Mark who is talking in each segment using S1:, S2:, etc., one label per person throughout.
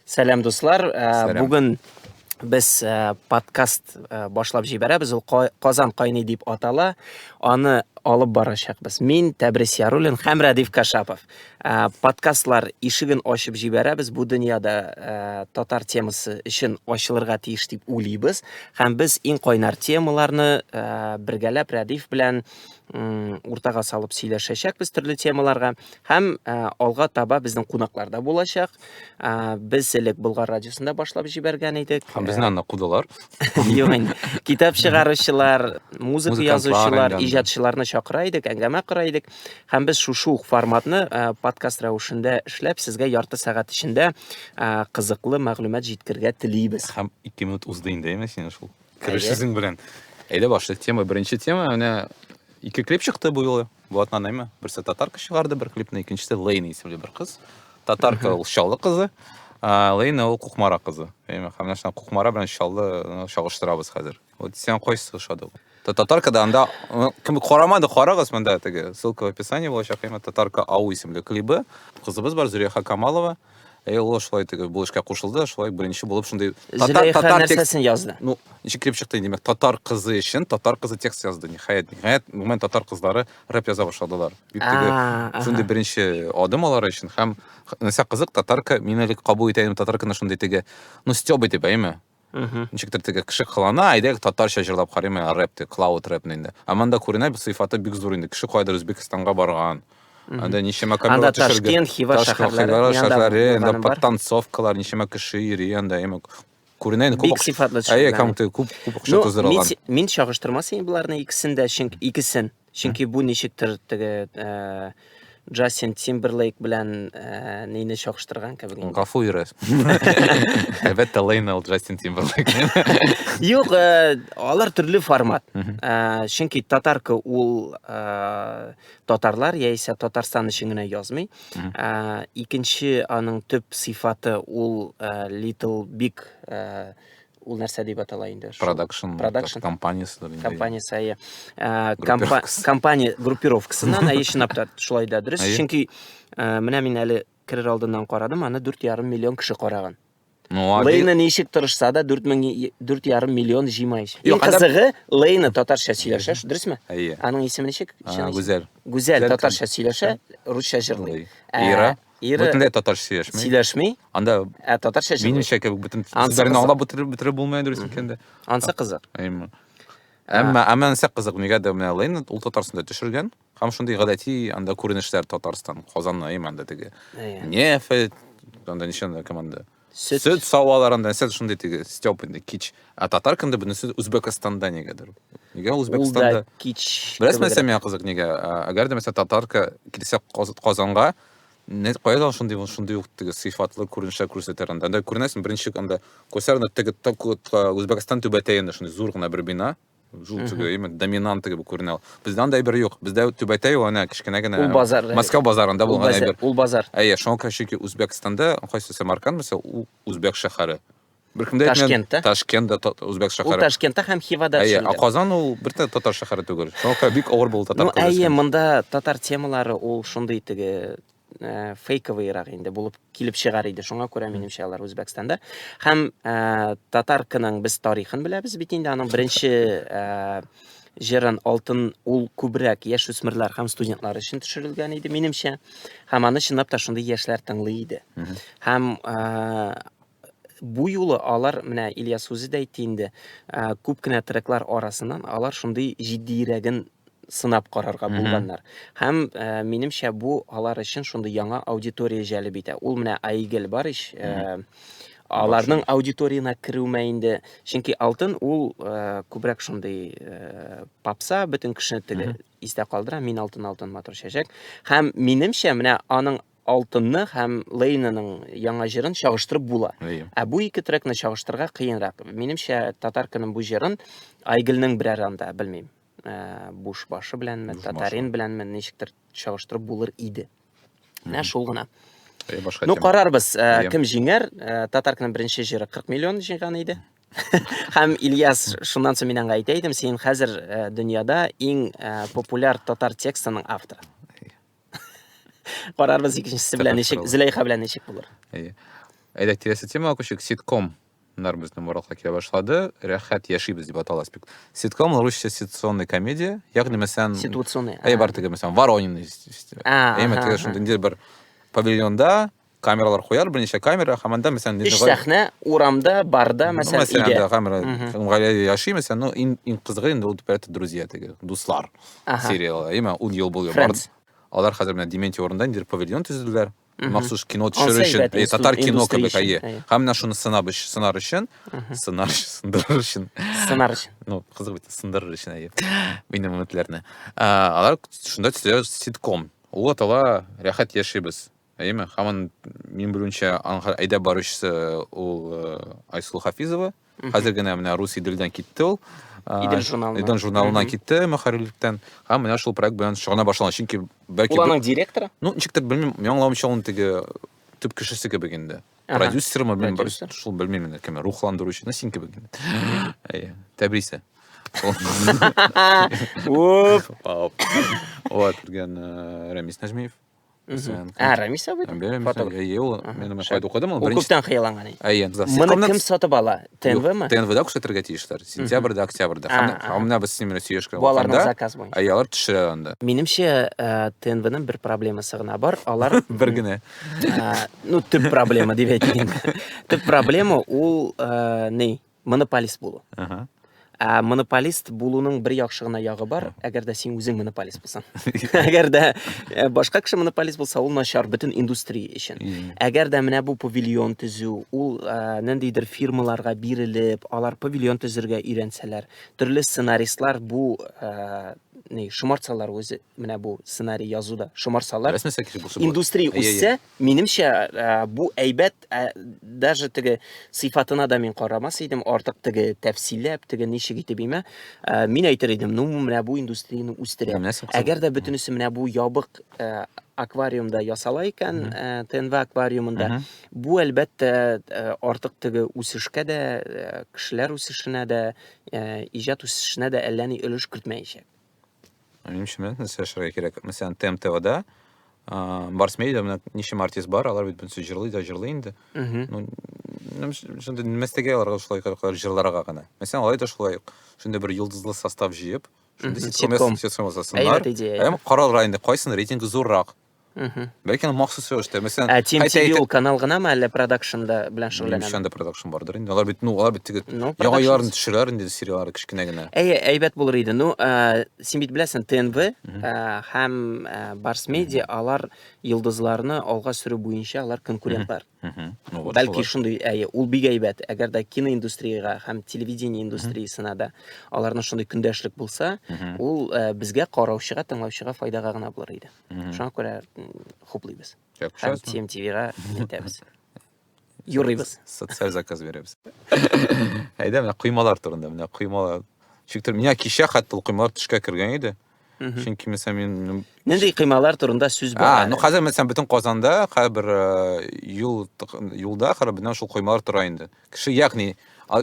S1: Сәлам
S2: дуслар, э, бүген без э, подкаст э, башлап җибәрәбез. Ул Казан кайный дип атала. Аны алып барачакбыз. Мин Тәбрис Яруллин һәм Радиф Кашапов. Ә, подкастлар ишеген ачып җибәрәбез. Бу дөньяда ә, татар темасы өчен ачылырга тиеш дип уйлыйбыз. Һәм без иң кайнар темаларны ә, бергәләп Рәдиф белән м, уртага салып сөйләшәчәкбез төрле темаларга. Һәм ә, алга таба безнең кунакларда булачак. Ә, без элек Болгар радиосында башлап җибәргән идек. Һәм безне анда кудылар.
S3: Юк инде.
S2: Китап чыгаручылар, музыка Музыкантлар язучылар, әңгәмә. иҗатчыларны
S3: чакыра идек,
S2: әңгәмә кора идек. Һәм без шушы ук форматны ә, подкаст рәвешендә эшләп, сезгә ярты сәгать эчендә ә, кызыклы мәгълүмат җиткергә телибез. Һәм 2 минут узды
S3: инде, әйме синең шул кереш Әйе. сүзең белән. Әйдә башлыйк тема. Беренче тема менә ике клип чыкты бу юлы. Блатнанайма, берсе татарка чыгарды бер клипны, икенчесе Лейна исемле бер кыз. Татарка ул Чаллы кызы, а Лейна ул Кукмара кызы. Әйме, һәм менә шуны Кукмара белән Чаллы ну, чагыштырабыз хәзер. Вот сиңа кайсы ошады? ул? Та- Татарка да анда ну, кем карамады, карагыз монда теге ссылка в описании булачак. Әйме, Татарка ау исемле клибы. Кызыбыз бар Зөләйха Камалова. Әйе, ул шулай итеп бу эшкә кушылды, шулай беренче булып шундый татар Зөләйха татар текст
S2: нәрсәсен язды? ну, ничек килеп чыкты,
S3: димәк, татар кызы өчен татар кызы текст язды, ниһаять. Ниһаять, гомумән татар кызлары рэп яза башладылар. Бик теге А, аха. шундый беренче адым алар өчен һәм х- нәрсә кызык, татарка, мин әле кабул итә идем татарканы шундый теге, ну, стёб итеп, әйеме? ничектер теге кеше кылана әйдәгез татарча җырлап карыйм ә рэп дип клауд рэпны инде ә монда күренә сыйфаты бик зур инде кеше кайдыр өзбекстанга барган анда ничәмә камера төшергән хива
S2: шәһәрләре анда подтанцовкалар
S3: ничәмә кеше йөри анда әмма күренә инде бик сыйфатлы төшергән
S2: әйе күп күп акча
S3: туздырылган мин чагыштырмас
S2: идем боларны икесен дә чөнки икесен Чөнки бу ничектер теге Джастин Тимберлейк белән ә, нейне чагыштырган кебек. инде. Гафу йөрәс.
S3: Әлбәттә, Лейнел Джастин Тимберлейк. Юк,
S2: ә, алар төрле формат. Мгм. Ә, чөнки татарка ул ә, татарлар яисә Татарстан өчен генә язмый. Мгм. Ә, икенче аның төп сыйфаты ул ә, Little Big ә, ул нәрсә дип атала инде продакшн продакшн
S3: компанияседер компаниясе әйе
S2: ә, компания группировкасыннан әйе чынлап та шулай да дөрес чөнки ә, менә мин әле керер алдыннан карадым аны дүрт ярым миллион кеше караган лейна ничек тырышса да дүрт мең дүрт ярым миллион жыймай иң кызыгы лейна татарча сөйләшә дөресме әйе аның исеме ничек гүзәл гүзәл
S3: татарча
S2: сөйләшә русча җырлый ира ә, Ире
S3: Бөтенләй татарча сөйләшми. сөйләшми, Анда
S2: ә
S3: татарча җырлый. минемчә
S2: кебек бөтен Ансы сүзләрне
S3: кызык. аңлап бетереп бетереп булмый дөрес икәндә. Ансы кызык.
S2: Әйме.
S3: Әмма әмма нәрсә кызык, нигәдер менә Лейн ул Татарстанда төшергән һәм шундый гадәти анда күренешләр Татарстан, Казанны, әйме анда теге Әйе. нефть, анда ничә анда команда. Сөт. Сөт саваларын да сез шундый теге Степ инде кич. Ә татар кемдә бунысы Үзбекстанда нигәдер. Нигә Үзбекстанда? Кич. Беләсме
S2: Сәмия кызык
S3: нигә? Әгәр дә мәсәлән татарка килсә Казанга, не кайда шундый шундый ук теге сыйфатлы күренешә күрсәтер анда. Анда күренәсең беренче анда күрсәр анда теге Үзбекстан түбәтәенә шундый зур гына бер бина. Шул теге именно доминанты кебек күренә ул. Бездә андай бер юк. Бездә түбәтәй ул ана кечкенә генә. Ул базар. Москва базарында булган әйбер. Ул базар. Әйе, шуңа
S2: күрә чөнки
S3: Үзбәкстанда кайсы Самарканд булса, ул үзбәк шәһәре. Беркемдә Ташкент та. Ташкент да үзбәк шәһәре. Ул Ташкентта һәм
S2: Хивада төшелгән. Әйе, Казан ул
S3: бер татар шәһәре түгел. Шуңа күрә бик авыр булды татар күрәсе. Ну, әйе, монда
S2: татар темалары ул шундый теге ә, фейковыйрак инде булып килеп чыгар иде. Шуңа күрә минемчә алар Үзбәкстанда. Һәм ә, татаркының без тарихын беләбез бит инде. Аның беренче ә, җырын алтын ул күбрәк яшь үсмерләр һәм студентлар өчен төшерелгән иде, минемчә. Һәм аны чынлап та шундый яшьләр тыңлый иде. Һәм ә, бу юлы алар менә Ильяс үзе дә әйтте инде, ә, күп кенә треклар арасыннан алар шундый җитдиерәген сынап карарга булганнар. Һәм ә, минемчә бу алар өчен шундый яңа аудитория җәлеп итә. Ул менә Айгел бар ич, ә, аларның аудиториясенә керүемә инде, чөнки Алтын ул ә, күбрәк шундый ә, попса, бөтен кешене теге истә калдыра, мин алтын, алтын матур чәчәк. Һәм минемчә менә аның Алтынны һәм Лейнаның яңа җырын чагыштырып була. Әйе. Ә бу ике трекны чагыштырырга кыенрак. Минемчә, татарканың бу җырын Айгелнең берәр анда, белмим, ә, буш башы беләнме, Буш татарин башы. беләнме ничектер чагыштырып булыр иде. Менә шул гына. Әйе, башка Ну, тема. карарбыз, ә, Әйе. кем җиңәр. Ә, Татарканың беренче җыры 40 миллион җыйган иде. Һәм Ильяс, шуннан соң мин аңа әйтә идем, син хәзер ә, дөньяда иң ә, популяр татар текстының авторы. Карарбыз икенчесе белән ничек, Зөләйха белән ничек булыр. Әйе. Әйдә
S3: киләсе темага күчик. Ситком нар безнең Маралга килә башлады. Рәхәт яшибез дип атала спект. Ситком русча ситуационный комедия, ягъни мәсәлән ситуационный. Әй бар теге
S2: мәсәлән
S3: Воронины. Әй мәсәлән шундый бер павильонда камералар куяр, берничә камера, һәм анда мәсәлән Өч сәхнә
S2: урамда, барда, ну, мәсәлән, мәсәлән, өйдә. камера,
S3: һәм
S2: гаиләдә
S3: яши, мәсәлән, ну, иң, иң кызыгы инде ул дип друзья теге, дуслар ага. сериалы, әйме, ул ел бул бар. Алар хәзер менә Дементий урында инде павильон төзеделәр. Махсус кино төшерү өчен, әйе, татар кино кебек, әйе. Һәм менә шуны сынап өчен, сынар өчен, сынар өчен, сындырыр өчен. Сынар өчен. Ну, кызык бит, сындырыр өчен, әйе. Минем өметләрне. Алар шунда төзелә ситком. Ул атала Рәхәт яшибез. Әйеме? Хаман мин белүнчә аңгар әйдәп баручысы ул э, Айсул Хафизова. Хәзер генә менә рус иделдән китте ул. Э, Идел журналына. Идел журналына китте мөхәррирлектән. Һәм менә шул проект белән шөгыльләнә башлаган. Чөнки бәлки Ул аның директоры? Ну,
S2: ничектер белмим,
S3: яңламча ул теге төп кешесе кебек инде. Продюсермы, белмим, шул белмим инде кем, рухландыручы, ну син кебек инде. Әйе, тәбрисе. Оп. Вот, дигән э, Рәмис Нәҗмиев. Сән. Ә,
S2: Рамиса бит. Бәлем, фотограф. Әйе, ул
S3: мин аны кайда укыдым, ул беренче. Күптән хыялланган. Әйе,
S2: за Моны кем
S3: сатып
S2: ала? ТНВ-ме? ТНВ-да күрсәтергә тиешләр.
S3: Сентябрьдә, октябрьдә. Һәм менә без синең белән сөйләшкән вакытта. Аларның заказ буенча.
S2: Әйе, алар төшерә анда.
S3: Минемчә,
S2: ТНВ-ның бер проблемасы гына бар. Алар бер генә.
S3: Ну,
S2: төп проблема дип әйтим. Төп проблема ул ни? Монополист булу. Ага. Ә монополист булуның бер яхшы гына ягы бар, әгәр дә син үзең монополист булсаң. әгәр дә э, башка кеше монополист булса, ул начар бөтен индустрия өчен. Әгәр дә менә бу павильон төзү, ул э, ниндидер фирмаларга бирелеп, алар павильон төзергә өйрәнсәләр, төрле сценаристлар бу э, ни шомартсалар үзе Менә бу сценарий язуда шомарсалар. Рәсмәсә кеше булса була. Индустрия Әйе, үссә, әйе. минемчә, ә, бу әйбәт, ә, даже теге сыйфатына да мин карамас идем, артык теге тәфсилләп, теге ничек итеп имә. Ә, Мин әйтер идем, ну, менә бу индустрияне үстерә. Менә нәрсә кызык. Әгәр дә бөтенесе менә бу ябык ә, аквариумда ясала икән, Мгм. ә, ТНВ аквариумында, Мгм. бу әлбәттә ә, артык теге үсешкә дә, ә, кешеләр үсешенә дә, ә, иҗат үсешенә дә әллә ни өлеш кертмәячәк.
S3: Нишләмә, нәрсә эшләргә кирәк? Мәсәлән, ТМТВда Барс Медиа менә ничем артист бар, алар бит бөтенесе җырлый да җырлый инде. Ну, шундый мәстәгә аларга шулай кадәр җырларга гына. Мәсәлән, алай да шулай ук. Шундый бер йолдызлы состав җыеп, шундый ситком ясасыннар. Һәм каралар инде, кайсын рейтинг зуррак. ләкин махсус рәвештә мәсәлән ә тим тиви ул канал
S2: гынамы әллә продакшн да белән шөгыльләнәме ничәндә продакшн бардыр инде
S3: алар бит ну алар бит теге ну, яңа елларын төшерәләр инде сериаллар кечкенә генә әйе әйбәт булыр иде ну
S2: ә, син бит беләсең тнв ә, һәм ә, барс медиа алар йолдызларны алга сөрү буенча алар конкурентлар бәлки шундый әйе ул бик әйбәт әгәр дә киноиндустриягә һәм телевидение индустриясенә дә аларның шундый көндәшлек булса ул э, безгә караучыга тыңлаучыга файдага гына булыр иде шуңа күрә хуплыйбыз һәм тмтвга илтәбез юрыйбыз социаль заказ
S3: бирәбез әйдә менә коймалар турында менә коймалар шиктер менә кичә хәтта ул коймалар төшкә кергән иде чөнки мәсәлән мин нинди кыймалар
S2: турында сүз бара ну хәзер мәсәлән бөтен казанда
S3: һәрбер юл юлда хәрбинә шул коймалар тора инде кеше ягъни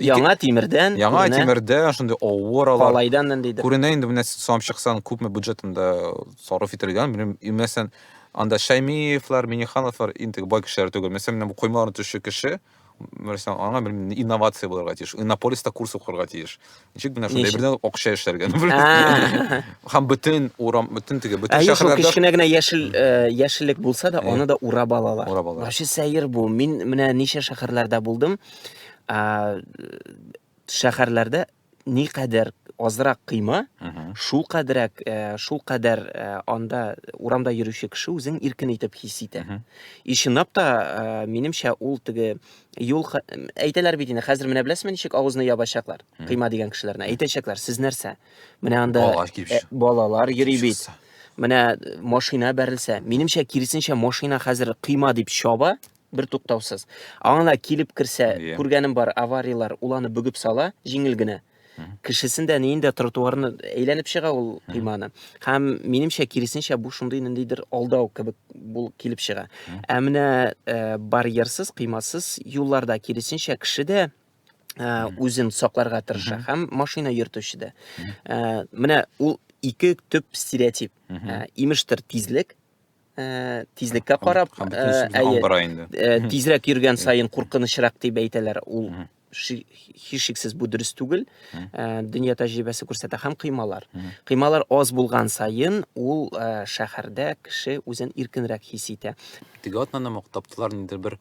S3: яңа тимердән
S2: яңа тимердән шундый
S3: авыр алар калайдан ниндидер күренә
S2: инде менә салып
S3: чыксаң күпме бюджетында сарыф ителгән белмим мәсәлән анда шәймиевлар минихановлар интеге бай кешеләр түгел мәсәлән менә бу коймаларны төшүче кеше нәрсә аңа белмим инновация булырга тиеш иннополиста курс укырга тиеш ничек менә шундай бердән акча эшләргә һәм бөтен урам бөтен теге бөтен шәһәрләрдә кечкенә генә яшел
S2: э, яшеллек булса да аны да урап алалар урап алалар вообще сәер бу мин менә ничә шәһәрләрдә булдым шәһәрләрдә ни кадәр азрак кыйма, шул кадәрәк, э, шул кадәр э, анда урамда йөрүче кеше үзен иркен итеп хис итә. И чынлап та, э, минемчә, ул теге юл ха- әйтәләр бит инде, хәзер менә беләсезме ничек авызны ябачаклар? Кыйма дигән кешеләрне әйтәчәкләр, сез нәрсә? Менә анда Балалар килеп э, чык- балалар йөри бит. чыкса. Менә э, машина бәрелсә, минемчә, киресенчә машина хәзер кыйма дип чаба, бер туктаусыз аңына килеп керсә yeah. күргәнем бар авариялар ул аны бөгеп сала җиңел генә кешесен дә неен дә тротуарны әйләнеп чыга ул койманы һәм минемчә киресенчә бу шундый ниндидер алдау кебек бул килеп чыга ә менә э, барьерсыз кыймасыз юлларда киресенчә кеше дә э, үзен сакларга тырыша һәм машина йөртүче дә э, менә ул ике төп стереотип имештер тизлек Э, тизлеккә карап э, э, тизрәк йөргән сайын куркынычрак дип әйтәләр ул һичшиксез бу дөрес түгел дөнья тәҗрибәсе күрсәтә һәм кыймалар кыймалар аз булган сайын ул шәһәрдә кеше үзен иркенрәк хис итә теге атнаны
S3: таптылар ниндидер бер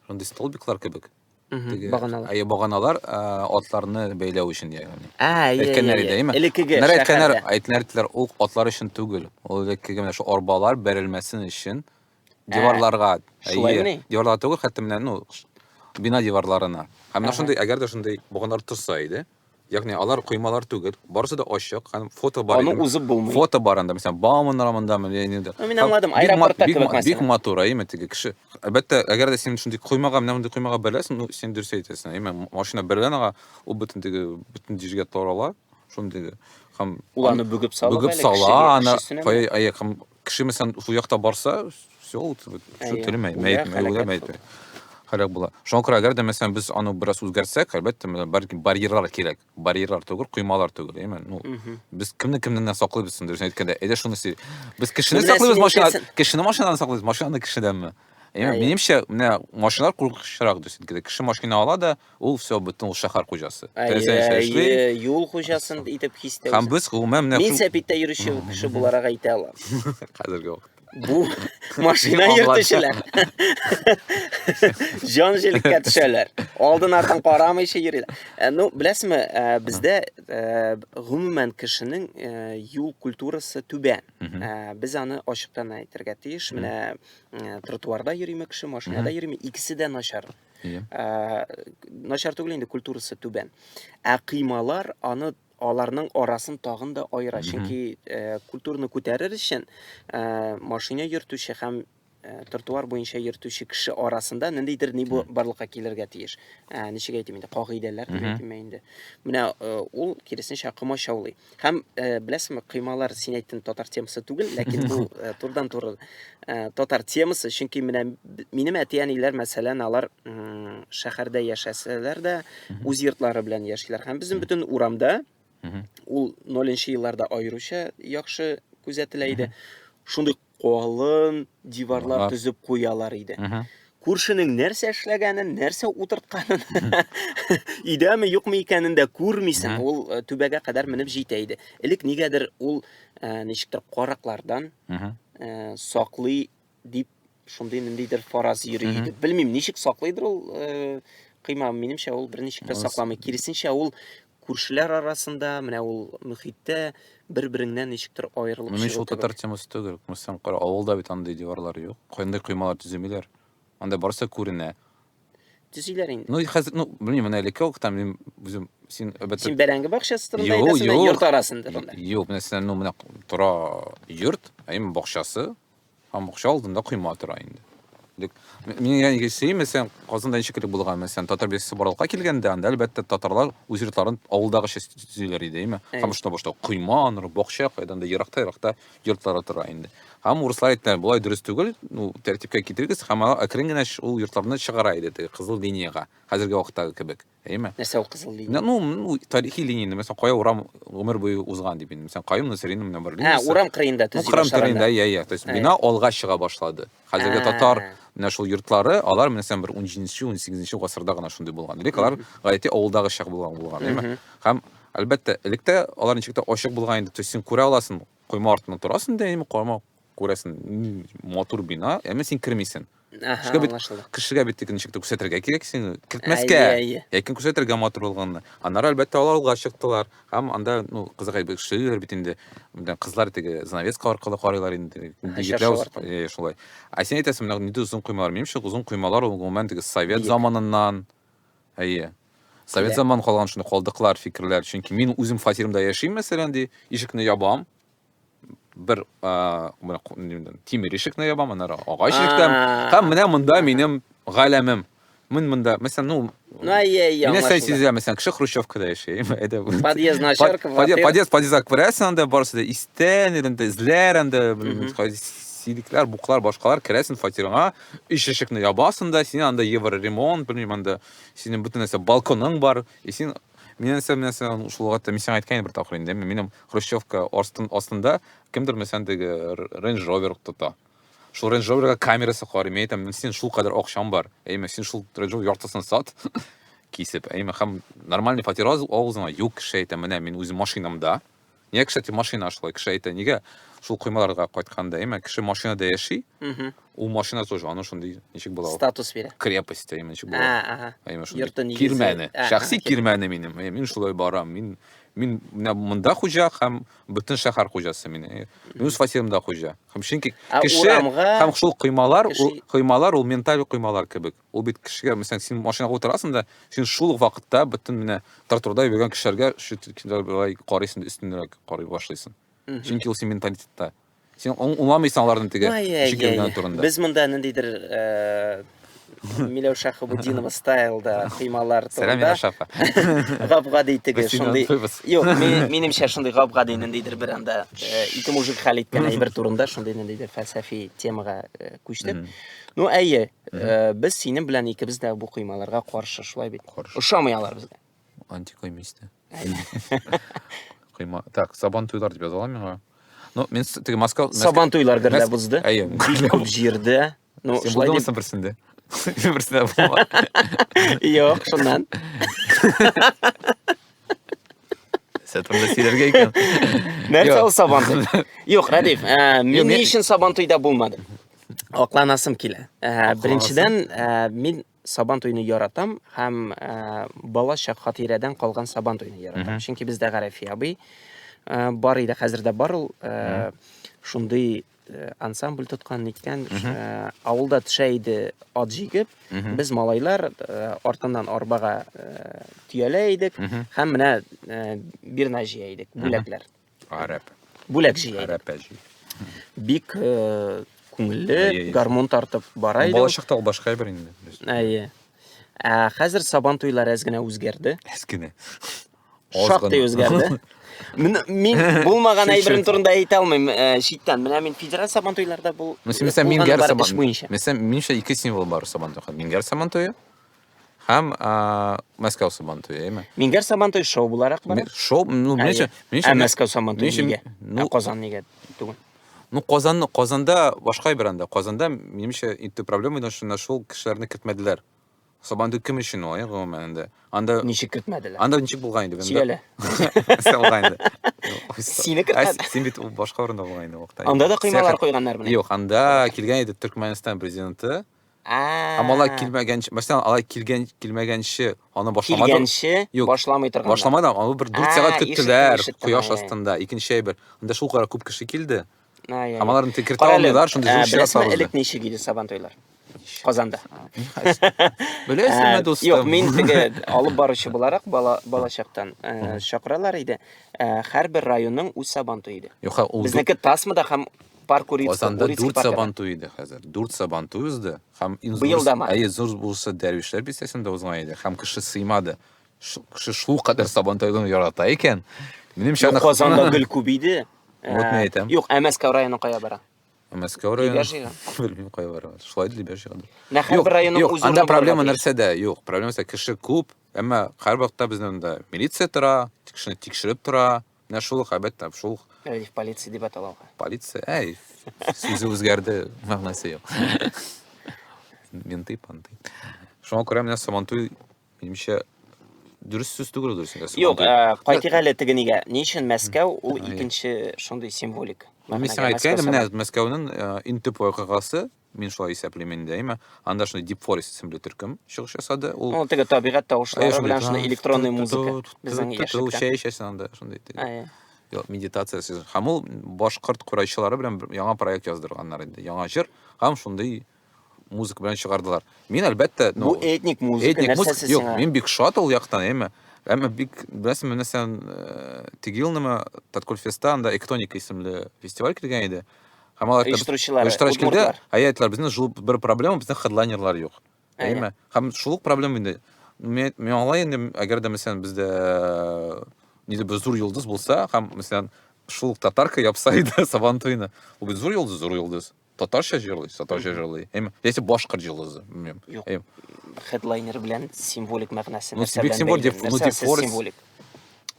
S3: шундый столбиклар кебек Теге, баганалар.
S2: Әйе, баганалар
S3: атларны бәйләү өчен ягъни. Ә, әйе. Әйткәннәр иде, әйеме?
S2: Элеккеге шәһәрдә.
S3: Әйткәннәр,
S2: әйткәннәр иттеләр,
S3: ул атлар өчен түгел. Ул элеккеге менә шул арбалар бәрелмәсен өчен диварларга, әйе. Диварларга түгел, хәтта менә, ну, бина диварларына. Һәм менә шундый, әгәр дә шундый баганалар торса иде, Ягъни алар коймалар түгел, барысы да ачык һәм фото бар. Аны узып булмый. Фото
S2: бар анда, мәсәлән, Бауман
S3: романдамы или инде. Ну, мин аңладым,
S2: аэропортта кебек мәсәлән. Бик матур, әйме теге
S3: кеше. Әлбәттә, әгәр дә син шундый коймага, менә мондый коймага берләсең, ну, син дөрес әйтәсең, әйме, машина берлән ага, ул бөтен теге, бөтен дижгә тарала, шундый. Һәм уланы бүгеп сала,
S2: бүгеп сала, аны кая
S3: аяк һәм Кеше мәсәлән шул якта барса, все, ул шул Әйе. тере мәй- Үлә, мәйет, мәй- үлә, хәрәкәт мәйет. Һәлак була. Шуңа күрә әгәр дә мәсәлән без аны бераз үзгәртсәк, әлбәттә, менә бар- барьерлар кирәк. Барьерлар түгел, коймалар түгел, әйме? Ну, Мгм. без кемне кемнән генә саклыйбыз инде, дөресен әйткәндә. Әйдә шуны сөйлик. Без кешене Менә саклыйбыз син машина, әйтәсең. кешене машинадан саклыйбыз, машинаны кешедәнме? Әйме? Әйе. Минемчә, менә машиналар куркынычрак, дөресен әйткәндә. Кеше машина ала да, Ул все, бөтен ул шәһәр хуҗасы. Теләсәнчә эшли. Әйе,
S2: юл хуҗасын итеп хистә. Һәм без гомумән менә Мин
S3: сәпиттә йөрүче
S2: кеше буларак әйтә алам. Хәзерге вакытта.
S3: Бу
S2: машина йөртүчеләр. Җан җилеккә төшәләр. Алдын артын карамыйча йөриләр. Э, ну, беләсезме, э, бездә э, гомумән кешенең юл культурасы түбән. Без аны ачыктан әйтергә тиеш. Менә тротуарда йөриме кеше, машинада йөриме, икесе дә начар. Иә. Ә, начар түгел инде культурасы түбән. Ә кыймалар аны аларның арасын тагын да аера. Чөнки э, культурны күтәрер өчен э, машина йөртүче һәм э, тротуар буенча йөртүче кеше арасында ниндидер ни бу- барлыкка килергә тиеш. Ә, ничек әйтим инде, кагыйдәләр дип әйтимме инде. Менә э, ул киресенчә комачаулый. Һәм э, беләсеңме, коймалар син әйттең татар темасы түгел, ләкин бу э, турыдан туры э, татар темасы, чөнки менә минем әти-әниләр, мәсәлән, алар шәһәрдә яшәсәләр дә, үз йортлары белән яшиләр. Һәм безнең бөтен урамда ул 0 елларда аеруча яхшы күзәтелә иде. Шундый Калын диварлар төзеп куялар иде. Күршенең нәрсә эшләгәнен, нәрсә утыртканын, идәме юкмы икәнен дә күрмисең. Ул э, түбәгә кадәр менеп җитә иде. Элек нигәдер ул э, ничектер караклардан э, саклый дип шундый ниндидер фараз йөри иде. Белмим, ничек саклыйдыр ул кыйма, минемчә ул берничек тә сакламый. Киресенчә ул Күршеләр арасында, менә ул мөхиттә бер-береңнән ничектер аерылып Менә чыгу татар темасы
S3: түгел. Күмсәң кара, авылда бит андый диварлар юк. Кайндай коймалар төземиләр. Анда барысы күренә. Төзиләр
S2: инде. Ну, хәзер, ну, белмим, менә
S3: элекке вакытта мин үзем син әлбәттә Син бәрәңге бакчасы
S2: турында Юк, әйтәсең, юк. йорт арасында. Юк, менә син ну
S3: менә тора йорт, ә именно бакчасы. Һәм бакча алдында койма тора инде. Дик, мин яңа гесей, мәсәлән, Казанда ничек килеп булган, мәсәлән, татар бирсе барлыкка килгәндә, анда әлбәттә татарлар үз йортларын авылдагыча төзиләр иде, әйме? Һәм шунда башта койма, аннары бакча, кайдан да еракта, еракта йортлары тора инде. Һәм урыслар әйттеләр, болай дөрес түгел, ну, тәртипкә китерегез, һәм алар әкрен генә ул йортларны чыгара иде, теге кызыл линиягә, хәзерге вакыттагы кебек. Әйме? Нәрсә ул кызыл
S2: линия? Ну, ну тарихи линия,
S3: мәсәлән, кая урам гомер буе узган дип инде. Мәсәлән, Каюм Насыринның менә бер линиясе. Ә, урам кырыенда төзи башлаганда.
S2: Урам кырыенда, я, я. То есть бина алга
S3: чыга башлады. Хәзерге татар менә шул йортлары, алар менә сән бер 17-нче, 18-нче гасырда гына шундый булган. Элек алар гаете авылдагы чак булган булган, әйме? Һәм әлбәттә, электә алар ничек тә ачык булган инде. То есть син күрә аласың, койма артында торасың да, әйме, койма күрәсең матур бина әмма син кермисең Шуңа бит кешегә бит ничек тә күрсәтергә кирәк син кертмәскә ләкин күрсәтергә матур булганны аннары әлбәттә алар алга чыктылар һәм анда ну кызык бит шигырь бит инде кызлар теге занавеска аркылы карыйлар инде егетләр шулай ә син әйтәсең менә нинди озын коймалар минемчә озын коймалар ул гомумән теге совет заманыннан әйе совет заманын калган шундый калдыклар фикерләр чөнки мин үзем фатирымда яшим мәсәлән ди ишекне ябам бер тимер ишекне ябам, аннары агач ишектән. Һәм менә монда минем галәмем. Мин монда, мәсәлән, ну, ну әйе, яңа. Менә сәй сизә, мәсәлән, кеше Хрущевкада яши. Әйдә. Подъезд
S2: начарка. Подъезд,
S3: подъезд күрәсең анда барысы да истән, инде эзләр анда, сидикләр, буклар, башкалар керәсең фатирыңа, иш ишекне ябасың да, син анда евроремонт, белмим, анда синең бөтен нәрсә балконың бар, и син Мин нәрсә нәрсә шул вакытта мин сиңа әйткән бер тапкыр инде. Минем хрущевка астын астында кемдер мәсәлән теге Range Rover тота. Шул Range Rover-га камерасы карый. Мин әйтәм, син шул кадәр акчаң бар. Әйме, син шул Range Rover яртысын сат. Кисеп, әйме, һәм нормальный фатир авызыңа юк кеше әйтә, менә мин үз машинамда, Нигә, кстати, машина шулай? Кеше әйтә, нигә шул коймаларга кайтканда, именно кеше машинада яши, ул машина тоже аны шундый ничек була? Статус бирә. Крепость,
S2: именно ничек була?
S3: Ага. Именно шундый. Йорты нигезе. Кирмәне.
S2: Шәхси
S3: кирмәне минем. Мин шулай барам. Мин мин менә монда хуҗа һәм бөтен шәһәр хуҗасы мин. Мин үз фатирымда хуҗа. Һәм чөнки кеше һәм шул коймалар, коймалар ул менталь коймалар кебек. Ул бит кешегә, мәсәлән, син машинага утырасың да, син шул ук вакытта бөтен менә тротуарда йөргән кешеләргә шулай карыйсың да өстенрәк карый башлыйсың. Чөнки ул син менталитетта. Син уңламыйсың аларның теге шикелгә турында. Без монда ниндидер
S2: э, Миләүшә Хабудинова стайлда кыймалар турында. Сәлам Миләүшә апа.
S3: Гап-гади
S2: теге шундый. Юк, минемчә шундый гап-гади ниндидер бер анда э, ике мужик хәл иткән әйбер турында шундый ниндидер фәлсәфи темага э, күчтек. Ну, әйе, Э, без синең белән икебез дә бу коймаларга каршы, шулай бит? Каршы. Ошамый алар безгә. Антикойма истә.
S3: Койма. Так, сабан туйлар дип язалар миңа. Ну, мен теге Москва... Сабан туйлар герлә
S2: бузды. Әйе. Бик күп
S3: җирдә.
S2: Ну, Сен шулай дип... берсендә?
S3: Берсендә булма. Юк,
S2: шуннан.
S3: Сәтемдә сөйләргә икән. Нәрсә ул
S2: сабан туй? Юк, Радиф, э, мин ни өчен сабан туйда булмадым? Акланасым килә. Ә, беренчедән, ә, мин сабан туйны яратам һәм ә, бала чак хатирәдән калган сабан туйны яратам. Чөнки бездә Гарәфи абый ә, бар иде, хәзер дә бар ул. Ә, шундый Э, ансамбль тоткан ниткән э, авылда төшә иде ат җигеп без малайлар э, артыннан арбага төялә идек һәм менә бирна җыя идек бүләкләр Гарәп.
S3: Бүләк җыя.
S2: Гарәп әҗи. Бик э, күңелле, гармун тартып бара иде. Балачакта ул башка бер инде.
S3: Әйе.
S2: Ә хәзер сабан туйлары әз генә үзгәрде. Әз генә.
S3: Шактый
S2: үзгәрде. Мин булмаган әйберем турында әйтә алмыйм э, читтән. Менә мин федераль сабан туйларда бул. Мисәлән, мин гәр сабан.
S3: Мисәлән, минчә ике символ бар сабан туйга. Мин гәр сабан туе. Һәм Мәскәү Сабантуе, әйме? Мингәр Сабантуй шоу
S2: буларак бара. Шоу, ну, менчә,
S3: менчә. Ә Мәскәү Сабантуе
S2: нигә? Ну, Казан нигә түгел? Ну, Казан,
S3: Казанда башка бер анда. Казанда, менчә, инде проблема иде, шунда шул кешеләрне кертмәделәр. Сабантуй кем өчен ул, гомумән инде? Анда Ничек кертмәделәр? Анда
S2: ничек булган инде?
S3: Сөйлә.
S2: Булган
S3: инде. Сине
S2: кертмәде. Син бит башка урында
S3: булган инде вакытта. Анда да кыймалар койганнар
S2: белән. Юк, анда килгән
S3: иде Төркмәнстан президенты. А малай килмәгәнче, мәсәлән, алай килгән килмәгәнче аны башламады. Килгәнче Юк, башламый
S2: торган. Башламады, аны бер 4
S3: сәгать көттеләр кояш астында. Икенче әйбер. Анда шул кадәр күп кеше килде. Һәм аларны текертә алмыйлар, шундый зур чират сабылды. Элек ничек иде сабан туйлар?
S2: Казанда.
S3: Беләсеңме, дустым? Юк, мин теге
S2: алып баручы буларак бала балачактан чакыралар иде. Һәрбер районның үз сабан туе иде. Юк, ул безнеке тасмада һәм Пар курицкий, Казанда курицкий дүрт пар сабан кәлән.
S3: туе иде хәзер. Дүрт сабан туе узды һәм иң Быел зурысы, дама. әйе, зур булса Дәрвишләр бистәсендә узган иде һәм кеше сыймады. Ш- Кеше шул кадәр сабан туйларын ярата икән. Минемчә, Юк, аны Казанда гел күп
S2: иде. Вот мин әйтәм.
S3: Юк, ә Мәскәү районы кая
S2: бара? Мәскәү районы. Либяш
S3: җыйган. Белмим, кая бара. Шулай да Либяш җыйган. Менә Юк, һәрбер районның юк,
S2: үз анда урыны проблема булырга тиеш. нәрсәдә?
S3: Юк, проблема нәрсә? Кеше күп, әмма һәрвакытта безнең монда милиция тора, кешене тикшереп тора. Менә шул ук, әлбәттә, шул ук. Әле полиция дип
S2: аталалар. Полиция, әй,
S3: сүзе үзгәрде, мәгънәсе юк. Менты, панты. Шуңа күрә менә Сабантуй, минемчә, дөрес сүз түгел дөрес инде. Юк, э, кайтыйк
S2: әле теге нигә. Ни өчен Мәскәү ул икенче шундый символик? Мин сиңа әйткән идем,
S3: менә Мәскәүнең э, иң төп вакыйгасы Мин шулай исәплим инде, әйме. Анда шундый Deep Forest исемле төркем чыгыш ясады. Ул Ну, теге табигать
S2: тавышлары белән шундый электронный музыка безнең яшьлектә. Чәй эчәсең анда шундый.
S3: Әйе. Медитация сезон. Һәм ул башкорт курайчылары белән яңа проект яздырганнар инде. Яңа җыр һәм шундый музыка белән чыгардылар. Мин әлбәттә, ну, бу этник музыка,
S2: этник музыка. Юк, мин бик шат ул яктан,
S3: әйме. Әмма бик беләсең, нәрсә, э, Тегилнема Таткульфеста анда Эктоника исемле фестиваль килгән иде. Һәм алар оештыручылар, оештыручылар әйттеләр, безнең шул бер проблема, безнең хедлайнерлар юк. Әйме? Һәм шул проблема инде. Мин аңлай инде, әгәр дә мәсәлән бездә э, нидер бер зур йолдыз булса, һәм мәсәлән шул татарка япса иде Сабан туйны. Ул бит зур йолдыз, зур йолдыз. Татарча җырлый, татарча җырлый. Әйме? Яисә башкорт йолдызы, белмим. Юк.
S2: Хедлайнер белән символик мәгънәсе нәрсә белән? Символик,
S3: ну, символик.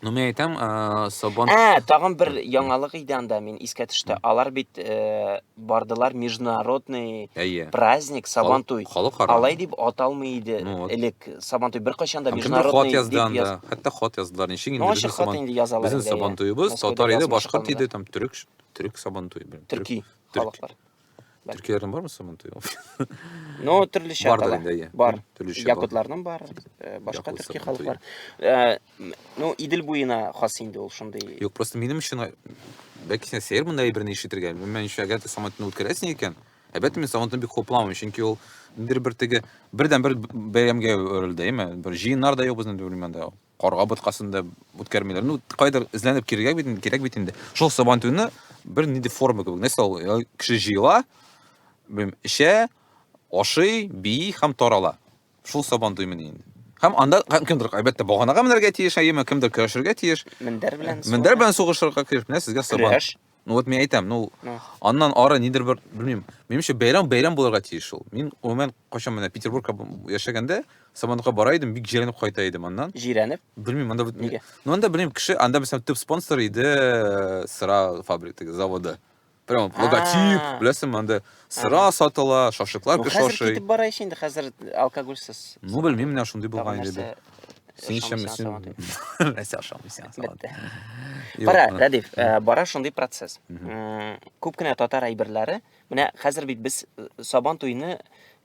S2: Ну,
S3: мен айтам, ә, Сабан... Ә, тагын бер
S2: яңалык иде анда, мин искә төшті. Алар бит ә, бардылар международный Әйе. праздник, Сабан туй. Халық ара. Алай дип аталмый иде ну, вот. элек. Сабан туй бер кайчан да международный дип язды. Анда. Яз... Хәтта хат яздылар.
S3: Ничек инде безнең Сабан... Инде язалар, безнең
S2: Сабан туйыбыз,
S3: татар иде, башкорт иде, там төрек, төрек Сабан туй. Төрки халыклар.
S2: Төркияләрдән
S3: бармы соң монда? Ну,
S2: төрлечә Бар да инде, иә. Бар. Төрлечә бар. Якутларның
S3: бар,
S2: э, башка Якутлар, төрки халыклар. Э, ну, Идел буена хас инде ул шундый. Юк, просто минем өчен э,
S3: бәлки син сәер монда әйберне ишетергә. Минем өчен әгәр дә самолетны үткәрәсең икән, әлбәттә мин самолетны бик хупламыйм, чөнки ул бер бер теге бердән бер бәйрәмгә әверелде, әйме? Бер җыеннар да юк безнең дөрмәндә. Карга боткасында үткәрмиләр. Ну, кайдыр эзләнеп кирегә бит инде, кирәк бит инде. Шул сабан туйны бер нинди форма кебек, нәрсә ул? Э, кеше җыела, белмим, эчә, ашый, бии һәм тарала. Шул сабан туй мени инде. Һәм анда һәм кемдер, әлбәттә, баганага менәргә тиеш, әйеме, кемдер көрәшергә тиеш. Мендәр белән. Мендәр
S2: белән сугышырга
S3: тиеш. Менә сезгә сабан. Көрәш. Ну вот мен айтам, ну аннан ары нидер бер, белмим. Менимчә бәйрәм бәйрәм булырга тиеш ул. Мин гомумән качан менә Петербургка яшәгәндә Сабантуйга бара идем, бик җирәнеп кайта идем аннан. Җирәнеп? Белмим, анда
S2: нигә?
S3: Ну анда белмим, кеше анда мәсәлән төп спонсор иде э, сыра фабрикасы, заводы. Прям логотип, беләсең, анда Сыра сатыла, шашлыклар Ну, кеше хәзер ашый. китеп бара ич инде, хәзер
S2: алкогольсез. Ну, белмим, менә
S3: шундый Тагын булган инде. нәрсә Син ишәм, ашамыйсың, син... салат итеп. Нәрсә ашамыйсың, син салат. Бетте. Юк,
S2: Кара, а. Рәдиф, э, бара шундый процесс. Мгм. М, Күп кенә татар әйберләре, менә хәзер бит без э, сабан туйны,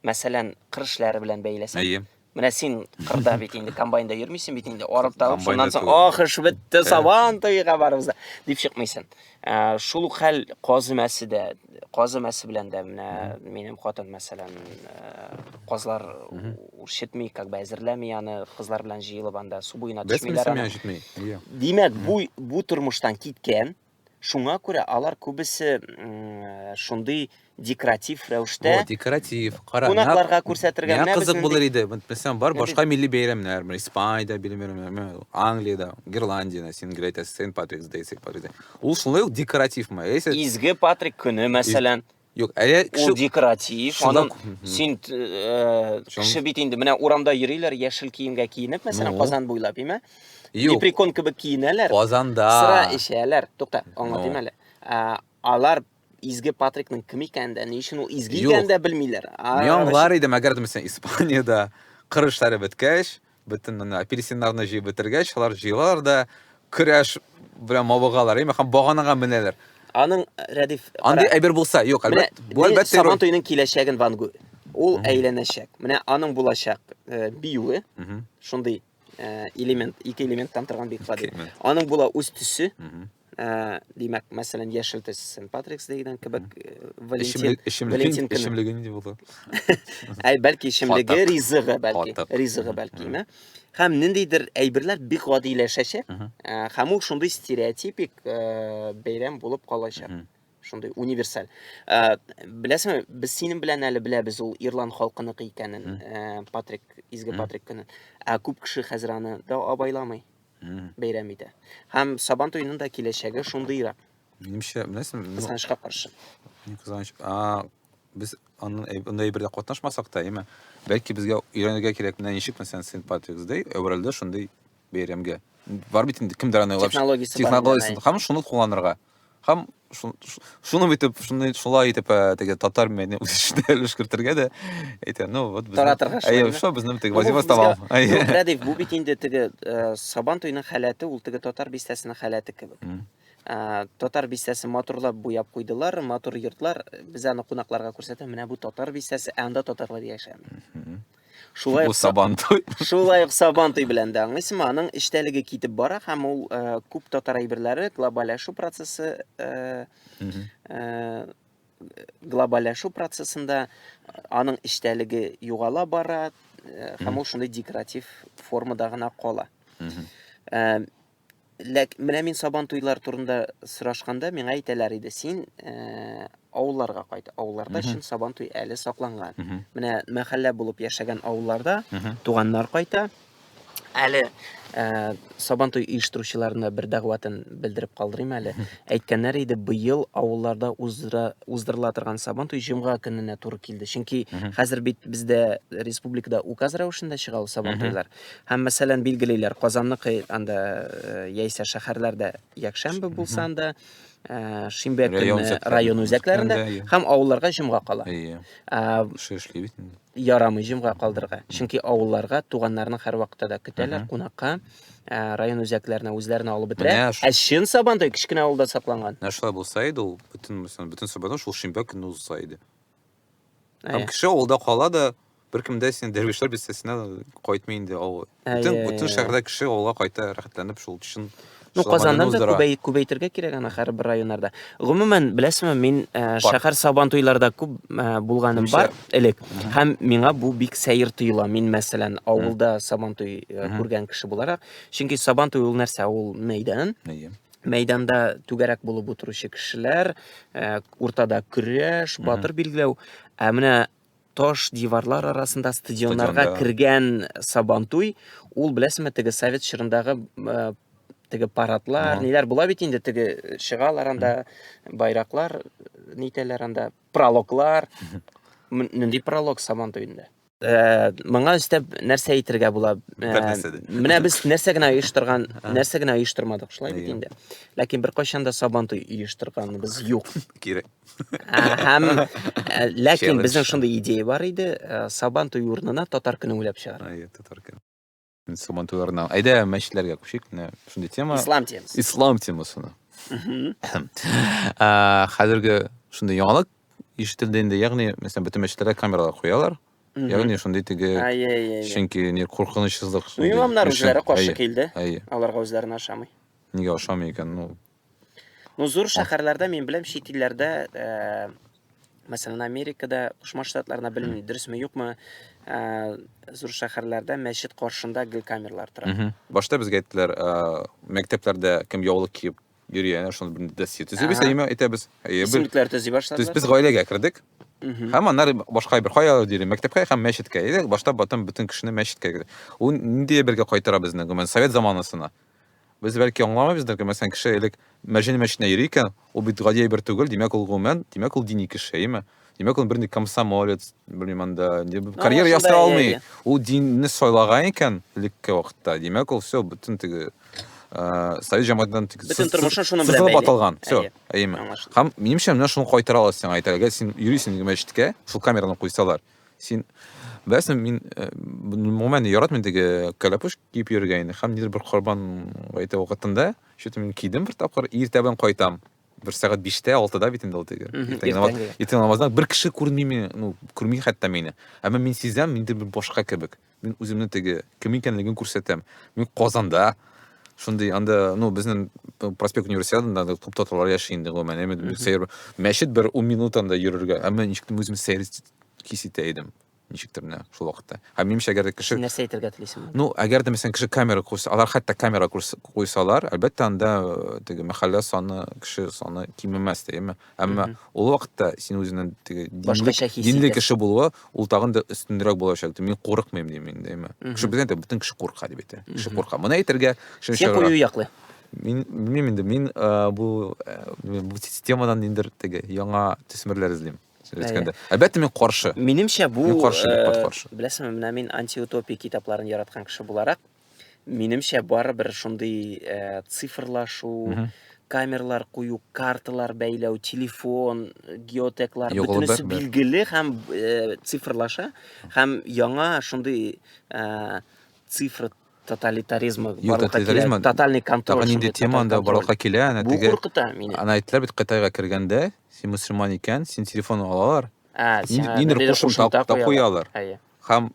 S2: мәсәлән, кыр эшләре белән бәйләсәк, Әйе. Менә син кырда бит инде комбайнда йөрмисең бит инде, арып табып, шуннан соң ах, эш бетте, сабан туйга барыбыз да дип чыкмыйсың. Ә, шул ук хәл казымәсе дә, казымәсе белән дә менә минем хатын мәсәлән, ә, казлар үрчетми, как бы әзерләми аны, кызлар белән җыелып анда су буена төшмиләр. Без аны. Димәк, бу бу тормыштан киткән, Шуңа күрә алар күбесе шундый декоратив рәвештә. Бу декоратив, кара.
S3: Кунакларга күрсәтергә
S2: менә кызык булыр иде.
S3: Мәсәлән, бар башка милли бәйрәмнәр, менә Испаниядә бәйрәмнәр, Англиядә, Ирландиядә, син гел әйтәсең, Сент-Патрикс Дэй, Сент-Патрикс Дэй. Ул шулай ук декоративмы? Изге Патрик
S2: көне, мәсәлән. Юк, әле кеше...
S3: Ул декоратив,
S2: аның син э, кеше бит инде менә урамда йөриләр, яшел киемгә киенеп, мәсәлән, ну. Казан буйлап, име? Юк. Лепрекон кебек киенәләр. Казанда. Сыра
S3: эчәләр.
S2: Тукта, аңлатыйм ну. әле. Э, алар изге Патрикның кем икәнен дә, ни өчен ул изге икәнен дә белмиләр. Мин аңлар идем,
S3: әгәр дә Испаниядә кырышлары беткәч, бөтен менә апельсиннарны җыеп бетергәч, алар җыелалар да көрәш белән мавыгалар, яме һәм баганага менәләр. Аның
S2: Рәдиф Андый әйбер булса,
S3: юк, әлбәттә, бу әлбәттә Сабан туеның
S2: киләчәген Ван Гу. Ул әйләнәчәк. Менә аның булачак э, биюе, шундый э, элемент, ике элементтан торган бик гади. Аның була үз төсе, ә, димәк, мәсәлән, яшел төс Сент Патрикс дигән кебек э, Валентин Валентин көне. Эчемлеге нинди
S3: булды? Әй,
S2: бәлки эчемлеге, ризыгы бәлки, ризыгы бәлки, ме? Һәм ниндидер әйберләр бик гадиләшәчәк, ә, һәм ул шундый стереотипик ә, бәйрәм булып калачак. Шундый универсаль. Ә, беләсеңме, без синең белән әле беләбез ул ирланд халкыныкы икәнен, ә, Патрик, изге Патрик көне. Ә күп кеше хәзер аны да абайламый. бәйрәм итә. Һәм Сабан туеның да киләчәге шундыйрак. Минемчә, беләсең,
S3: кызганычка каршы.
S2: Кызганыч.
S3: А, без аннан анда әйбердә катнашмасак та, әйме? Бәлки безгә өйрәнергә кирәк, менә ничек мәсәлән Сент Патрикс Дэй әверелде шундый бәйрәмгә. Бар бит инде кемдер аны уйлап. Технологиясе. Технологиясе. Һәм шуны кулланырга. Һәм шуны битеп, шуны шулай итеп э, теге татар мәдәни үсешенә өлеш кертергә дә әйтә. Ну, вот без. Таратырга шулай. Әйе, шо безнең теге вазифа табам. Әйе. Рәдиф, бу бит
S2: инде теге э, Сабан туйның халәте, ул теге татар бистәсенең халәте кебек. Э, татар бистәсе матурлап буяп куйдылар, матур йортлар. Без аны кунакларга күрсәтә, менә бу татар бистәсе, ә анда татарлар яшәми. Шулай ук Сабантуй. Шулай ук Сабантуй белән дә аңлыйсыңмы? Аның эчтәлеге китеп бара һәм ул э, күп татар әйберләре глобаллашу процессы э, э, глобаллашу процессында аның эчтәлеге югала бара һәм ул шундый декоратив формада гына кала. Ләк менә мин сабан туйлар турында сорашканда миңа әйтәләр иде, син э, авылларга кайт. Авылларда чын сабан туй әле сакланган. Менә мәхәллә булып яшәгән авылларда туганнар кайта. Әле э, сабан туй оештыручыларына бер дәгъватын белдереп калдырыйм әле. Әйткәннәр иде, быел авылларда уздыра, уздырыла торган сабан туй җомга көненә туры килде. Чөнки хәзер бит бездә республикада указ рәвешендә чыга ул сабан туйлар. Һәм мәсәлән билгелиләр, Казанныкы анда яисә шәһәрләрдә якшәмбе булса анда, ә, шимбә көне район үзәкләрендә һәм авылларга җомга кала. Әйе. Кеше
S3: эшли бит инде. Ярамый җомга калдырырга.
S2: Чөнки авылларга туганнарны һәрвакытта да көтәләр кунакка. Ә, район үзәкләренә үзләренә алып бетерә. Ә чын Сабантуй кечкенә авылда сакланган. Менә шулай булса иде, ул
S3: бөтен бөтен Сабантуй шул шимбә көне узса иде. Һәм кеше авылда кала да, беркем дә син дәрвишләр бистәсенә кайтмый инде авыл. Бөтен бөтен шәһәрдә кеше авылга кайта рәхәтләнеп шул чын Ну, Казаннан да
S2: күбәй, күбәйтергә кирәк ана хәр бер районнарда. Гомумән, беләсезме, мин э, шәһәр сабан туйларда күп э, булганым бар элек. Һәм миңа бу бик сәер тоела. Мин, мәсәлән, авылда сабан туй э, күргән кеше буларак. Чөнки сабан туй ул нәрсә? Ул мәйдан. мәйданда түгәрәк булып утыручы кешеләр, э, уртада көрәш, батыр билгеләү. Ә менә таш диварлар арасында стадионнарга кергән сабантуй, ул беләсеңме теге совет чорындагы э, теге парадлар, ниләр була бит инде теге э, чыгалар анда байраклар, нитәләр анда, прологлар. Нинди пролог сабантуенда? Э, моңа өстәп нәрсә әйтергә була? Э, менә без нәрсә генә оештырган, нәрсә генә оештырмадык, шулай бит инде. Ләкин бер кайчан да сабантуй оештырганыбыз юк. Кире.
S3: Һәм
S2: э, ләкин безнең шундый идея бар иде, сабантуй урынына татар көне уйлап чыгар. Ай, татар көне.
S3: Сабан туйларына. Әйдә, мәчетләргә күчик. Менә шундый тема. Ислам темасы. Ислам темасына. Ә, Хәзерге шундый яңалык ишетелде инде. Ягъни, мәсәлән, бөтен мәчетләргә камералар куялар. Ягъни, шундый теге Ай-яй-яй. Чөнки не куркынычсызлык. Ну, имамнар үзләре
S2: каршы килде. Әйе. Аларга үзләренә ошамый. Нигә ошамый
S3: икән? Ну, Ну,
S2: зур шәһәрләрдә мин беләм, чит илләрдә, э, мәсәлән, Америкада, Кушма Штатларында белмим, дөресме, юкмы, э, зур шәһәрләрдә мәчет каршында гел камерлар тора. Мгм. Башта безгә әйттеләр,
S3: ә, мәктәпләрдә кем яулык киеп йөри, әнә шуны бер досье төзибез, Ага. әйеме, әйтәбез. Әйе, бер- Исемлекләр төзи Без,
S2: башладылар. без гаиләгә кердек,
S3: Мгм. һәм аннары башка бер кая йөри, мәктәпкә һәм мәчеткә. Әйдә, башта бөтен бөтен кешене мәчеткә керде. Ул нинди әйбергә кайтара безне, гомумән, совет заманасына. Без бәлки аңламыйбыздыр, гел мәсәлән кеше элек мәҗен мәчетенә йөри икән, ул бит гади әйбер түгел, димәк ул гомумән, димәк ул дини кеше, әйеме? Димәк ул бернинди комсомолец, белмим анда, карьера ясый алмый. Ул динне сайлаган икән элекке вакытта, димәк ул все, бөтен теге совет җәмгыятеннән тик бөтен тормышын шуның
S2: белән бәйле. атылган. Все, әйеме?
S3: Һәм минемчә менә шуны кайтара аласың, әйтәлгә син йөрисең мәчеткә, шул камераны куйсалар. Син беләсең, мин э, гомумән яратмыйм теге кәләпүш киеп йөрергә инде. Һәм нидер бер корбан гаете вакытында, что-то мин кидем бер тапкыр, иртә белән кайтам. Бер сәгать 5-тә, 6-да бит инде ул теге. Мгм, Иртәнге намаз- иртәнге. Иртәнге намаздан бер кеше күрми мине, ну, күрми хәтта мине. Әмма мин сизәм, мин башка кебек. Мин үземне теге кем икәнлеген күрсәтәм. Мин Казанда шундый анда, ну, безнең э, проспект универсиадында да күп татарлар яши инде гомумән. Әмма бер сәер мәчет бер 10 минут анда йөрергә. Әмма ничек тем үзем сәер хис итә идем. Ничектер менә шул вакытта. Һәм минемчә, әгәр дә кеше Син нәрсә әйтергә телисең?
S2: Ну, әгәр дә мәсәлән кеше
S3: камера куйса, алар хәтта камера куйс- куйсалар, әлбәттә анда э, теге мәхәллә саны, кеше саны кимемәс, дигәнме? Әмма Мгм. ул вакытта син үзеңнең теге динле, Башкача хис динле итәсең. кеше булуы ул тагын да өстенрәк булачак. Мин курыкмыйм дим мин дәйме. Мгм. Кеше безгә әйтә, бөтен кеше курка дип әйтә. Кеше Мгм. курка. Моны әйтергә кешене Син чыгарга. кую яклы.
S2: Мин белмим
S3: инде, мин э, бу э, бу с- темадан ниндер теге яңа төсмерләр эзлим. Син Әйе. әйткәндә. Әлбәттә мин каршы. Минемчә бу Мин каршы,
S2: э, бик кат каршы. беләсеңме, менә мин антиутопия китапларын яраткан кеше буларак, Минемчә, барыбер шундый э, цифрлашу, Мгм. камерлар кую, карталар бәйләү, телефон, геотеклар, Югылып бөтенесе бәрбәр. билгеле һәм э, цифрлаша, һәм яңа шундый э, цифр тоталитаризмы Юк, барлыкка килә, тоталитаризмы, тотальный контроль. Тагын инде шундый тема тоталь анда контроль. барлыкка
S3: килә, әнә Бу теге куркыта мине.
S2: аны әйттеләр бит Кытайга
S3: кергәндә, син мөселман икән, син телефон алалар, Ә, ниндидер сиңа ниндидер ниндидер кушымта кушымта та куялар. куялар. Әйе. Хам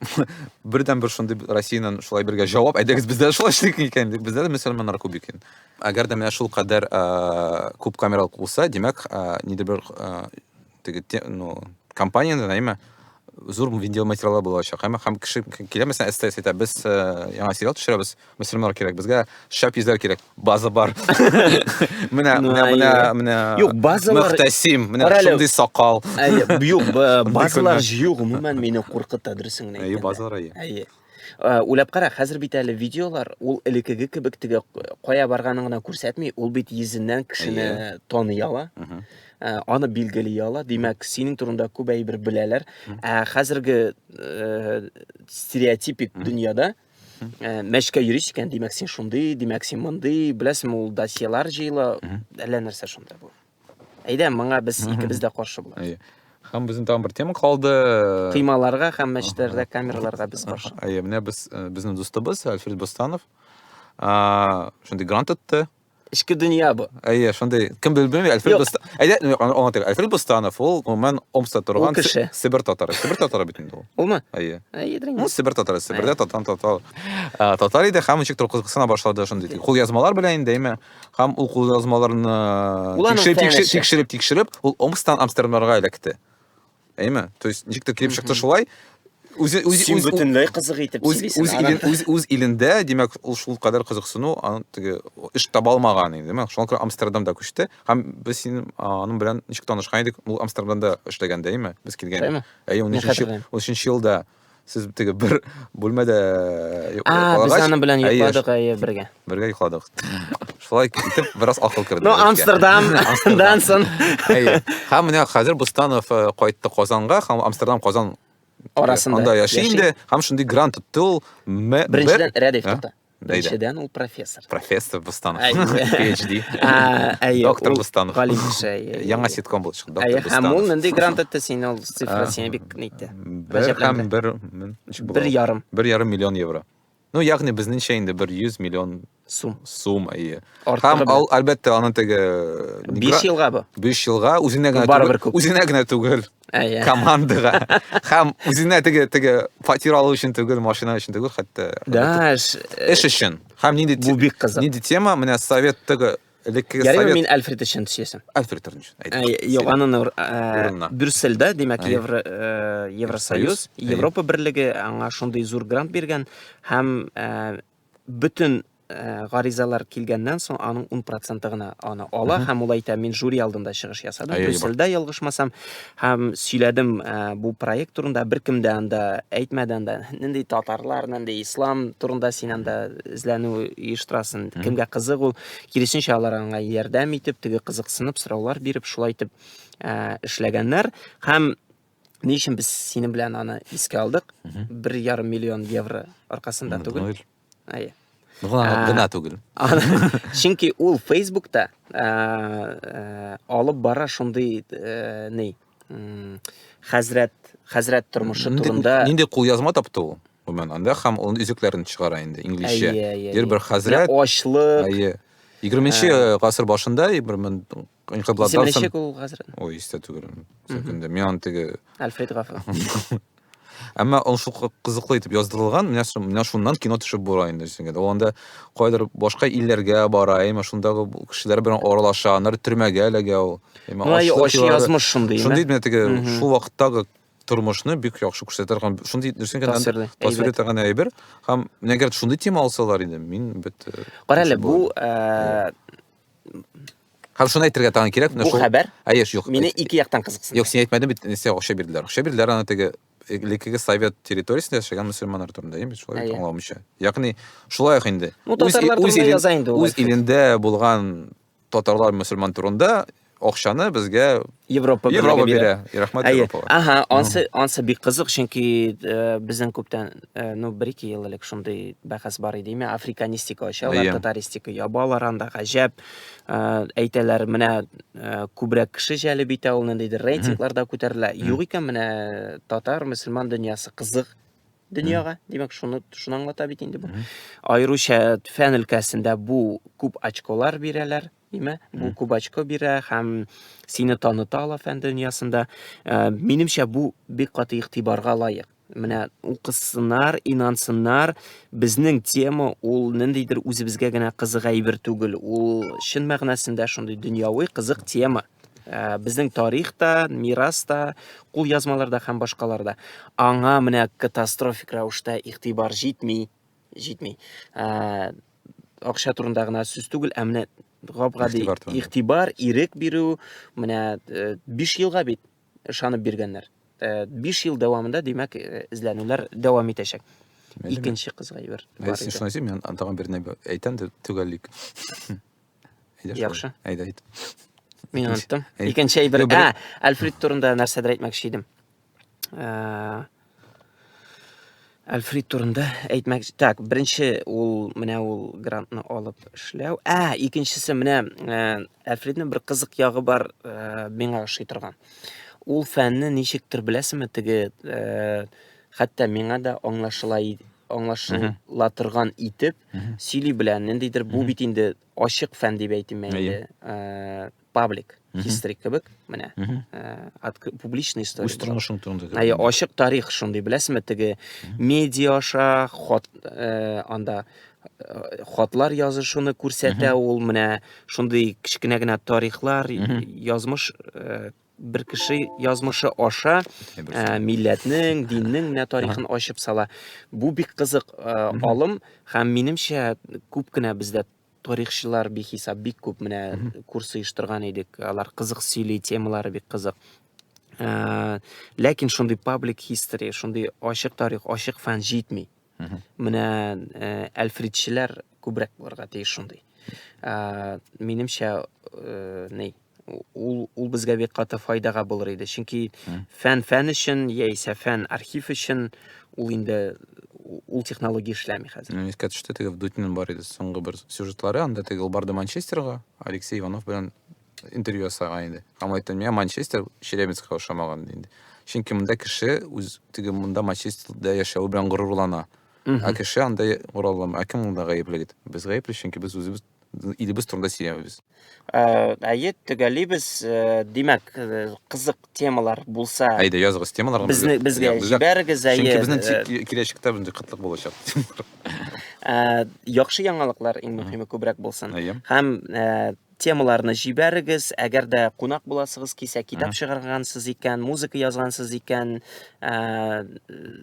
S3: бердән бер шундый Россиянен шулай бергә җавап, әйдәгез бездә шулай эшлик икән дип, бездә дә мөселманнар күп икән. Әгәр дә менә шул кадәр күп камералар булса, димәк, нидер бер теге ну компаниядән, әйме, зур видеоматериаллар булачак. Һәм кеше килә, мәсәлән, СТС әйтә, без яңа сериал төшерәбез, Мөселманнар кирәк безгә, шәп йөзләр кирәк. База бар. Менә, менә, менә, менә.
S2: Юк, базалар... Мөхтәсим, менә шундый
S3: сакал. Әйе,
S2: юк, базалар җыю гомумән мине куркыта, дөресен генә әйткәндә. Әйе, базалар әйе. Әйе. Э, уйлап кара, хәзер бит әле видеолар, ул элеккеге кебек теге кая барганын гына күрсәтми, ул бит йөзеннән кешене тоный ала. Э, аны билгели ала. Димәк, синең турында күп әйбер беләләр. Ә хәзерге э, стереотипик дөньяда Э, мәчкә йөрисең икән димәк син шундый димәк син мондый беләсеңме ул досьелар җыела әллә нәрсә шунда бу әйдә моңа без икебез дә каршы булабыз һәм безнең тагын бер
S3: тема калды тыймаларга
S2: һәм мәчетләрдә камераларга без каршы әйе менә без э,
S3: безнең дустыбыз альфред бостанов шундый грант отты эчке дөнья бу.
S2: Әйе, шундый. Кем
S3: белми, Әлфред Юк. Бостан. Әйдә, ну, аны аңлатыйк. Әлфред Бостанов ул гомумән Омскта торган Ул кеше. Си- Себер татары. Себер татары бит инде ул. Улмы? Әйе. Әйе,
S2: дрин. Ну,
S3: Себер татары, Себердә татан татар. А, Татар иде һәм ничек торып кызыксына башлады шундый тик кулъязмалар белән инде, әйме? Һәм ул кулъязмаларны Ул аның тикшереп, тикшереп, тәңгәсе. тикшереп, тикшереп, ул Омскстан Амстердамга эләкте. әйме то есть ничек тә килеп чыкты шулай үзе үзе син
S2: бөтенләй кызык итеп үз үз илен үз үз илендә
S3: димәк ул шул кадәр кызыксыну аны теге эш таба алмаган инде димәк шуңа күрә амстердамда күчте һәм без син аның белән ничек танышкан идек ул амстердамда эшләгәндә әйме без килгән әйе унөченче унөченче елда сез теге бер бүлмәдә э, а без аны
S2: белән йокладык әйе бергә бергә йокладык
S3: шулай итеп бераз акыл керде ну
S2: амстердамдан соң әйе һәм
S3: менә хәзер бустанов э, кайтты казанга һәм амстердам казан арасында анда
S2: яши инде
S3: һәм шундый грант тотты ул беренчедән
S2: рәдиф тотты Беренчедән ул профессор. Профессор
S3: Бустанов. PhD. Әйе. Доктор Бустанов. Галим кеше. Яңа ситком булып чыкты. Доктор Бустанов. Һәм ул нинди грант итте
S2: сине ул цифра сине бик нитте. Бер һәм бер бер
S3: ярым. Бер ярым миллион евро. Ну, ягъни безнеңчә инде бер 100 миллион сум. Сум, әйе. Һәм ал, әлбәттә, аны теге 5 елга
S2: бу. 5 елга үзенә
S3: генә түгел. Үзенә генә түгел. Әйе. командага һәм үзенә теге теге фатир алу өчен түгел машина өчен түгел хәтта Да, эш. эш өчен һәм нинди те- Бу бик кызык. нинди тема менә совет теге элеккеге Ярый совет мин Альфред өчен төшәсем.
S2: Альфред Торнич, Ә, әйдә.
S3: Юк, анын ур- ә,
S2: Урынына. Брюссельдә, димәк, Әйе. Евро, э, Евросоюз, Союз, әйе. Европа берлеге аңа шундый зур грант биргән һәм э, бөтен э, гаризалар килгәннән соң аның 10 проценты гына аны ала һәм ул әйтә мин жюри алдында чыгыш ясадым брюссельдә ялгышмасам һәм сөйләдем э, бу проект турында беркем дә анда әйтмәде анда нинди татарлар нинди ислам турында син анда эзләнү оештырасың кемгә кызык ул киресенчә алар аңа ярдәм итеп теге кызыксынып сораулар биреп шулай итеп э, эшләгәннәр һәм Ни өчен без синең белән аны искә алдык? Бер ярым миллион евро аркасында түгел. Әйе. Гына түгел. Чөнки ул Facebook'та алып бара шундый ни хәзрәт хәзрәт тормышы турында. Нинди кул язма тапты
S3: ул? Гомумән анда һәм ул үзекләрен чыгара инде инглизчә. Дер бер хәзрәт. Ачлык. Әйе. 20 нче гасыр башында, бер мең Кыйкыблатдан соң... ул хәзер. Ой, истә
S2: түгел.
S3: Сәкендә. Мин аны теге... Альфред Гафа. Әмма ул шул кызыклы итеп яздырылган, менә менә шуннан кино төшеп була инде дисең иде. Ул анда кайдыр башка илләргә бара, яме шундагы кешеләр белән аралаша, аннары төрмәгә эләгә ул. Яме ачы
S2: язмыш шундый. Шундый менә теге шул
S3: вакыттагы тормышны бик яхшы күрсәтә торган шундый дөресен генә тасвир итә торган әйбер һәм әгәр шундый тема алсалар иде мин бит э, кара әле бу
S2: э,
S3: Һәм шуны әйтергә тагын кирәк. Бу хәбәр? Әйе,
S2: юк. Мине ике
S3: яктан кызыксынды.
S2: Юк, син әйтмәдең бит, нәрсә
S3: акча бирделәр. Акча бирделәр аны теге элеккеге совет территориясендә яшәгән мусульманнар турында, яме шулай бит аңламыйча. Ягъни шулай ук инде. Ну, татарлар турында яза инде. Үз илендә булган татарлар мусульман турында Акчаны безгә Европа Европа бирә. Рәхмәт Европага. Ага, ансы ансы бик
S2: кызык, чөнки э, безнең күптән, э, ну, бер ике ел элек шундый бәхәс бар иде. Имя африканистика ачалар, татаристика ябалар анда гаҗәп. Э, әйтәләр, менә күбрәк кеше җәлеп итә ул ниндидер рейтингларда күтәрелә. Юк икән менә татар, мөселман дөньясы кызык дөньяга. Димәк, шуны шуны аңлата бит инде бу. Аеруча фән өлкәсендә бу күп очколар бирәләр. Димә, бу кубачко бирә һәм сине таныта ала фән дөньясында. Э, минемчә, бу бик каты игътибарга лаек. Менә укысыннар, инансыннар, безнең тема ул ниндидер үзебезгә генә кызык әйбер түгел. Ул чын мәгънәсендә шундый дөньяви кызык тема. Э, безнең тарих та, мирас та, кул язмаларда һәм башкаларда. Аңа менә катастрофик рәвештә игътибар җитми. җитми. Ә, акча турында гына сүз түгел, ә менә гап-гади игътибар, ирек бирү, менә 5 э, елга бит ышанып биргәннәр. 5 э, ел дәвамында, димәк, э, эзләнүләр дәвам итәчәк. Икенче кызга ибер. Ә син шуны әйтсәң, мин
S3: тагын берне әйтәм дә төгәллик.
S2: Яхшы. Әйдә, әйт.
S3: Мин оныттым.
S2: Икенче әйбер. Ә, Альфред
S3: турында
S2: нәрсәдер әйтмәкче идем. Альфред турында әйтмәк. Так, беренче ул менә ул грантны алып эшләү. Ә, икенчесе менә Альфредның бер кызык ягы бар, миңа ошый торган. Ул фәнне ничектер беләсеңме, теге хәтта миңа да аңлашыла аңлашыла торган итеп сөйли белә. Ниндидер бу бит инде ачык фән дип әйтим инде. паблик хистрик кебек менә э, публичный история үз тормышың турында әйе
S3: ачык тарих
S2: шундый беләсеңме теге медиа аша хат э, анда э, хатлар язышуны күрсәтә ул менә шундый кечкенә генә тарихлар язмыш бер кеше язмышы аша ә, милләтнең диннең менә тарихын ачып сала бу бик кызык ә, алым һәм минемчә күп кенә бездә тарихчылар бихисап бик күп менә курс оештырган идек алар кызык сөйли темалары бик кызык ә, ләкин шундый паблик хистори шундый ачык тарих ачык фән җитми менә ә, әлфридчеләр күбрәк булырга тиеш шундый ә, минемчә ә, ни ул ул безгә бик каты файдага булыр иде чөнки фән фән өчен яисә фән архив өчен ул инде ул технология эшләми хәзер Мин искә төште теге вдутинин
S3: бар иде соңгы бер сюжетлары анда теге ул барды манчестерга алексей иванов белән интервью ясаган иде һәм айтты миңа манчестер челябинскка ошамаган инде чөнки монда кеше үз теге монда манчестерда яшәве белән горурлана ә кеше анда горурлана ә кем монда гаепле дип без гаепле чөнки без үзебез илебез турында сөйләмибез. Э, әйе, төгәлибез.
S2: Э, димәк, э, кызык темалар булса, әйдә языгыз темаларны.
S3: Безне безгә җибәрегез,
S2: әйе. Чөнки безнең
S3: киләчәктә мондый кытлык булачак.
S2: Яхшы яңалыклар иң мөһиме күбрәк булсын. Һәм темаларны җибәрегез, әгәр дә кунак буласыгыз кисә, китап чыгаргансыз икән, музыка язгансыз икән,